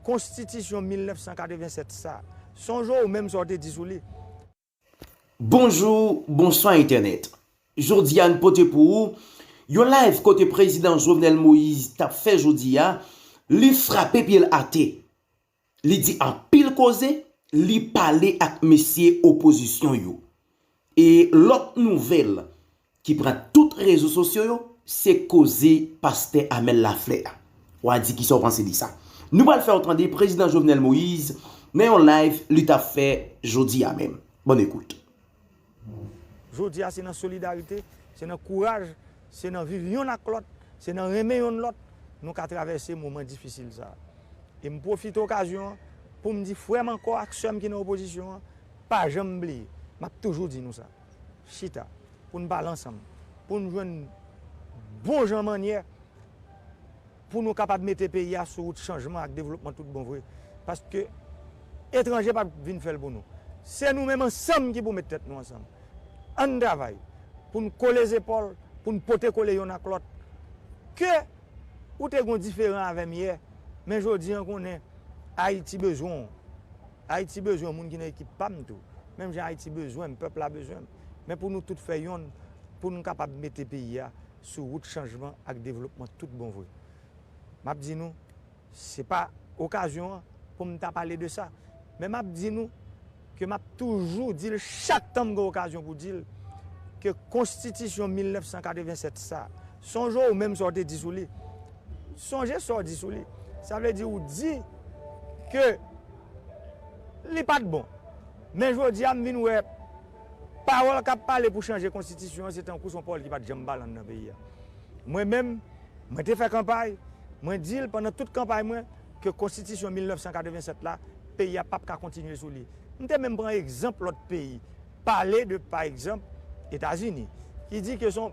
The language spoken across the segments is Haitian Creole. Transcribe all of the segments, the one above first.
Konstitisyon 1987 sa. Sonje ou menm sa w te di sou li. Bonjou, bonswa entènèt. Jodi a n pote pou ou yon live kote prezidan Jovenel Moise tap fè jodi a li frape pye l ate. Li di anpil koze, li pale ak mesye opozisyon yo. E lòt nouvèl ki pran tout rezo sosyo yo, se koze pastè Amel Lafleur a. Wa di kisa w panse de sa? Nou pral fè w tande Prezidan Jovenel Moïse nan yon live li t ap fè jodi a menm. Bòn ekout. Jodi a se nan solidarite, se nan kouraj, se nan viv yonn ak lòt, se nan renmen yonn lòt nou ka travèse moman difisil sa. E m pwofite okazyon an pou m di frè m ankò ak sè m ki nan opozisyon an, Pa janm bliye, m ap toujou di nou sa, chita pou n pale ansanm, pou n jwenn bon jan mannyè pou nou kapab mete peyi a sou wout chanjman ak devlopman tout bon vre. Paske etranje pap vin fè l pou nou. Se nou menm ansanm ki pou met tèt nou ansanm. An n travay pou n kole zepòl, pou n pote kole yonn ak lòt. Ke ou te gen w diferan avè m yè, men jodi an konnen Ayiti bezwen w. Ayiti bezwen moun ki nan ekip pa m tou. Menm jan Ayiti bezwen m, pèp la bezwen m. Men pou nou tout fè yonn pou nou kapab mete peyi a sou wout chanjman ak devlopman tout bon vre. M ap di nou, se pa okazyon an pou m ta pale de sa. Men m ap di nou ke m ap toujou di l chak tan m gen okazyon pou di l ke konstitisyon 1987 sa, Sonje ou menm sa w te di sou li. Sonje sa w di sou li. Sa vle di ou di ke li pa t bon. Men jodi a m vin wè pawòl k ap pale pou chanje konstitisyon an se tankou se yon pawòl ki pa t janm pale anndan peyi a. Mwen menm, mwen te fè kanpay, mwen di l pandan tout kanpay mwen ke konstitisyon 1987 la, peyi a p ap ka kontinye sou li. M te menm pran egzanp lòt peyi. pale de pa egzanp Etazini ki di ke son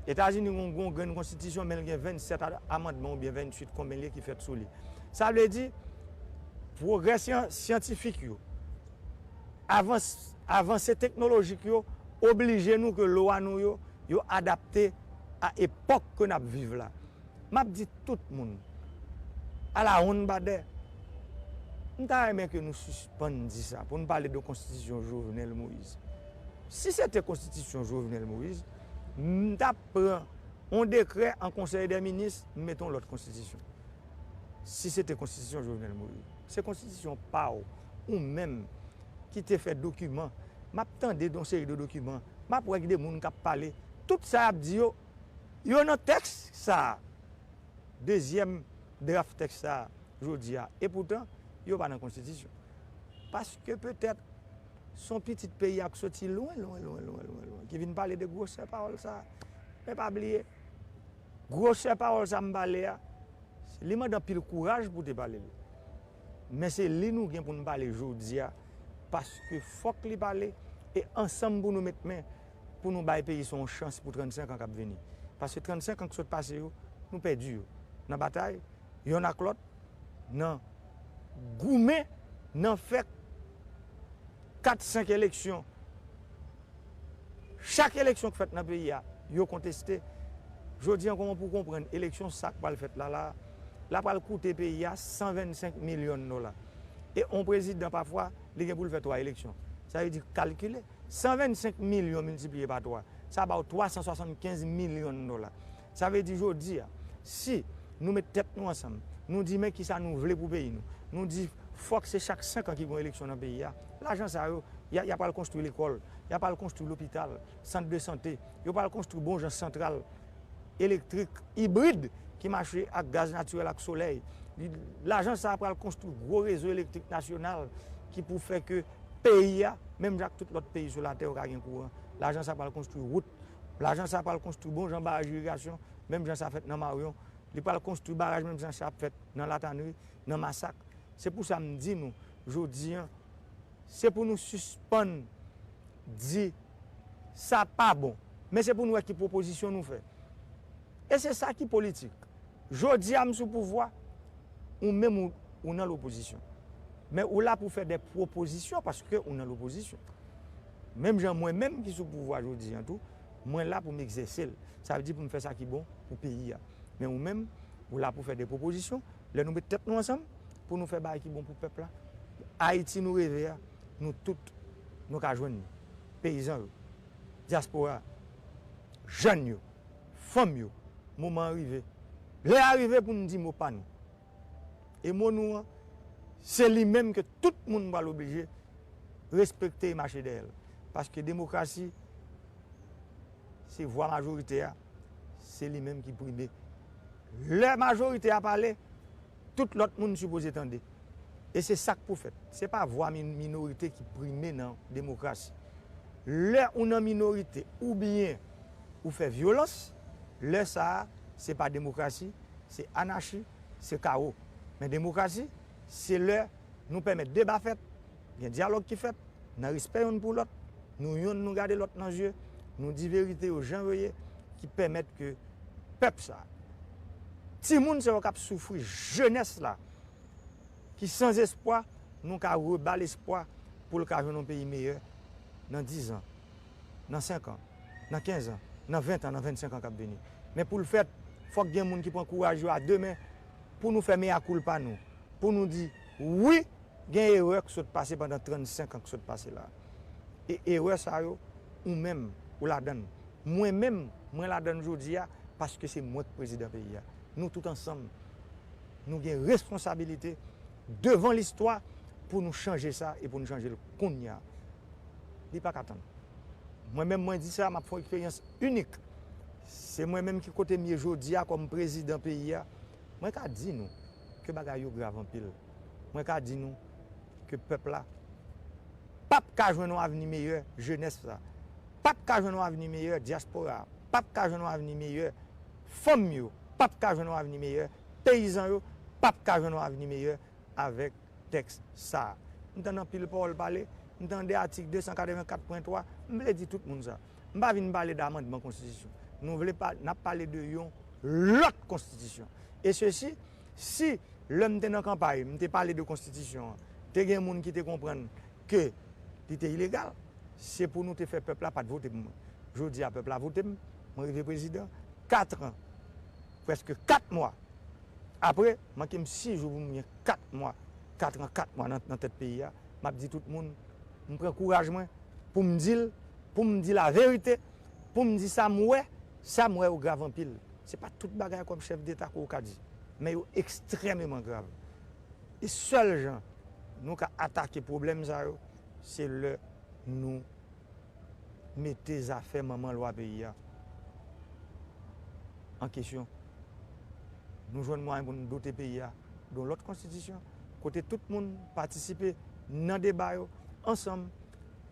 Etazini gen yon grenn konstitisyon men li gen 27 amandman oubyen 28 konbyen li ye ki fèt sou li. Sa vle di pwogrè syantifik yo, avans avanse teknolojik yo oblije nou ke lwa nou yo yo adapte a epòk ke n ap viv la. Map di tout moun, ala wonn badè. M ta renmen ke nou sispann di sa pou nou pale de konstitisyon Jovenel Moïse. Si se te konstitisyon Jovenel Moïse, m ta pran yon dekrè an konsèy dè minis, m mete yon lòt konstitisyon. Si se te konstitisyon Jovenel Moïse. Se konstitisyon pa w, ou menm ki te fè dokiman. Map tande yon seri de dokiman, map wè gen de moun kap pale, tout sa yap di yo, yo nan tèks sa a, dezyèm draf tèks sa a jodi a, epoutan yo pa nan konstitisyon. Paske petèt s on pitit peyi a k soti lwen lwen lwen lwen lwen lwen ki vin pale de gwosè pawòl sa a. Men pa bliye, gwosè pawòl sa a m pale a, li mande anpil kouraj pou w te pale l. Men se li nou gen pou n pale jodi a, paske fòk li pale e ansanm pou nou met men pou nou bay peyi sa yon chans pou 35 an k ap vini. Paske 35 an k sot pase yo, nou pèdi yo nan batay yonn ak lòt, nan goumen, nan fè kat senk eleksyon. Chak eleksyon k fèt nan peyi a, yo konteste. Jodi an kòman pou w konprann eleksyon sa k pral fèt la la a, la pral koute peyi a 125 milyon dola. E yon prezidan pafwa li gen pou l fè 3 eleksyon. Sa vle di kalkile. 125 milyon miltipliye pa 3, sa ba ou 375 milyon dola. Sa vle di jodi a, si nou met tèt nou ansanm, nou di men kisa nou vle pou peyi nou, nou di fòk se chak 5 an ki gon eleksyon nan peyi a, lajan sa yo, y a pral konstwi lekòl, y a pral konstwi lopital, sant de sante, yo pral konstwi bon jan santral elektrik ibrid ki mache ak gaz natirèl ak solèy. Lajan sa a pral konstwi gwo rezo elektrik nasyonal ki pou fè ke peyi a, menm jan ak tout lòt peyi sou latè yo ka gen kouran. Lajan sa pral konstwi wout, lajan sa pral konstwi bon jan baraj irigasyon, menm jan sa fèt nan Maryon, li pral konstwi baraj menm jan sa ap fèt nan Latanri, nan Masak. Se pou sa m di nou jodi an, se pou nou sispann di sa pa bon, men se pou nou wè ki pwopozisyon nou fè. E se sa ki politik. Jodi a m sou pouvwa, ou menm ou nan lopozisyon. Men ou la pou fè de pwopozisyon paske ou nan lopozisyon. Menm jan mwen menm ki sou pouvwa jodi an tou, mwen la pou m egzèse l. Sa vle di pou m fè sa ki bon pou peyi a. Men ou menm, ou la pou fè de pwopozisyon. Lè nou met tèt nou ansanm pou nou fè bagay ki bon pou pèp la, Ayiti nou reve a, nou tout nou ka jwenn li. Peyizan yo, dyaspora, jèn yo. Fanm yo, moman an rive. Lè a rive pou n di mo pa nou. E mo nou an, se li menm ke tout moun pral oblije respekte e mache dèyè l. Paske demokrasi, se vwa majorite a, se li menm ki prime. Lè majorite a pale. Tout lòt moun sipoze tande. E se sa k pou fèt. Se pa vwa minorite ki prime nan demokrasi. Lè ou nan minorite oubyen ou fè vyolans, lè sa a, se pa demokrasi, se anachi, se kawo. Men demokrasi, se lè nou pèmèt deba fèt, Gen dyalòg ki fèt, nan respè yonn pou lòt, nou yonn nou gade lòt nan je, nou di verite yo jan yo ye, ki pèmèt ke pèp sa, timoun sa yo k ap soufri, jenès la ki san zespwa, nou ka reba l espwa pou l ka jwenn yon peyi meyè nan dizan, nan senkan, nan kenzan, nan ventan, nan vennsenkan k ap vini. Men pou l fèt, fòk gen moun ki pran kouraj yo a de men pou nou fè meyakoulpa nou. pou nou di, wi, gen erè k sot pase pandan 35 an k sot pase la a. E erè sa yo, ou menm, ou ladan l. Mwen menm, mwen ladan l jodi a, paske se mwen k prezidan peyi a. Nou tout ansanm, nou gen responsabilite devan listwa pou nou chanje sa e pou nou chanje l kounya. Li pa ka tann. Mwen menm mwen di sa, m ap fè yon eksperyans inik. Se mwen menm ki kote m ye jodi a kòm prezidan peyi a. Mwen ka di nou, ke bagay yo grav anpil. Mwen ka di nou ke pèp la pap ka jwenn yon avni meyè, jenès la pap ka jwenn yon avni meyè, dyaspora a pap ka jwenn yon avni meyè, fanm yo pap ka jwenn yon avni meyè, peyizan yo pap ka jwenn yon avni meyè avèk tèks sa a. M tande anpil pawòl pale, m tande atik 284.3, m vle di tout moun sa. M pa vin pale d'amandman konstitisyon. Nou vle pa, n ap pale de yon lòt konstitisyon. E sesi, si lè m te nan kanpay, m te pale de konstitisyon an, te gen moun ki te konprann ke li te ilegal, se pou nou te fè pèp la pa t vote pou mwen. Jodi a pèp la vote m, mwen rive prezidan, katran, prèske kat mwa apre, manke m si jou pou m gen kat mwa, katran kat mwa nan tèt peyi a, m ap di tout moun, M pran kouraj mwen pou m di l, pou m di laverite, pou m di sa m wè, sa m wè yo grav anpil. Se pa tout bagay kòm chèf deta ke w ka di, men yo ekstrèmeman grav. E sèl jan nou ka atake pwoblèm sa yo, se lè nou mete zafè manman lwa peyi a an kesyon, nou jwenn mwayen pou nou dote peyi a. yon lòt konstitisyon kote tout moun patisipe nan deba yo ansanm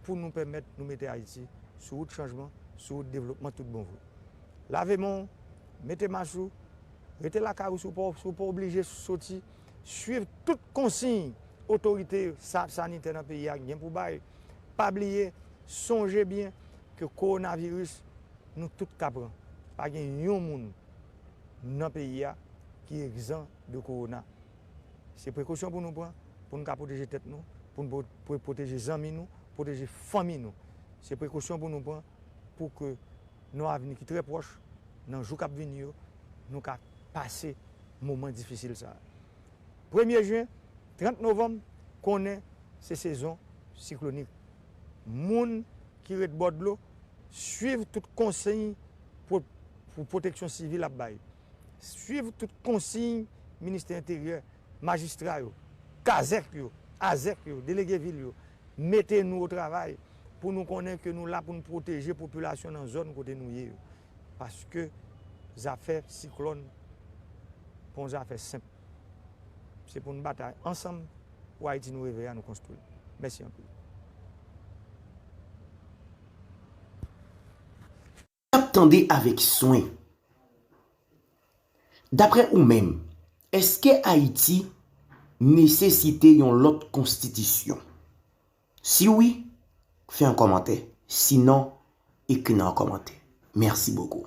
pou nou pèmèt nou mete Ayiti sou wout chanjman, sou wout devlopman tout bon vre. Lave men w, mete mas ou, rete lakay ou si w pa oblije soti, swiv tout konsiy otorite sa sanitè nan peyi a gen pou bay. Pa bliye, sonje byen ke kowonaviris nou tout ka pran. Pa gen yon moun nan peyi a ki egzan de kowona. Se prekosyon pou nou pran pou nou ka pwoteje tèt nou, pou nou pwoteje zanmi nou, pwoteje fanmi nou. Se prekosyon pou nou pran pou ke nan yon avni ki trè pwòch, nan jou k ap vini yo, nou ka pase moman difisil sa a. Premye jen, 30 novanm, konnen se sezon siklonik. Moun. ki ret bò dlo swiv tout konsiy pou pwoteksyon sivil ap bay, swiv tout konsiy Ministè Enteryè, majistra yo, kazèk yo, azèk yo, delege vil yo, mete nou otravay pou nou konnen ke nou la pou nou pwoteje popilasyon nan zòn kote nou ye yo. Paske zafè siklòn pa yon zafè senp. Se pou nou batay ansanm pou Ayiti nou reve a nou konstwi. Mèsi anpil. Ap tande avèk swen. Daprè ou menm, èske Ayiti nesesite yon lòt konstitisyon? Si wi, fè yon kòmantè. Si non, ekri nan yon kòmantè. Mèsi bokou.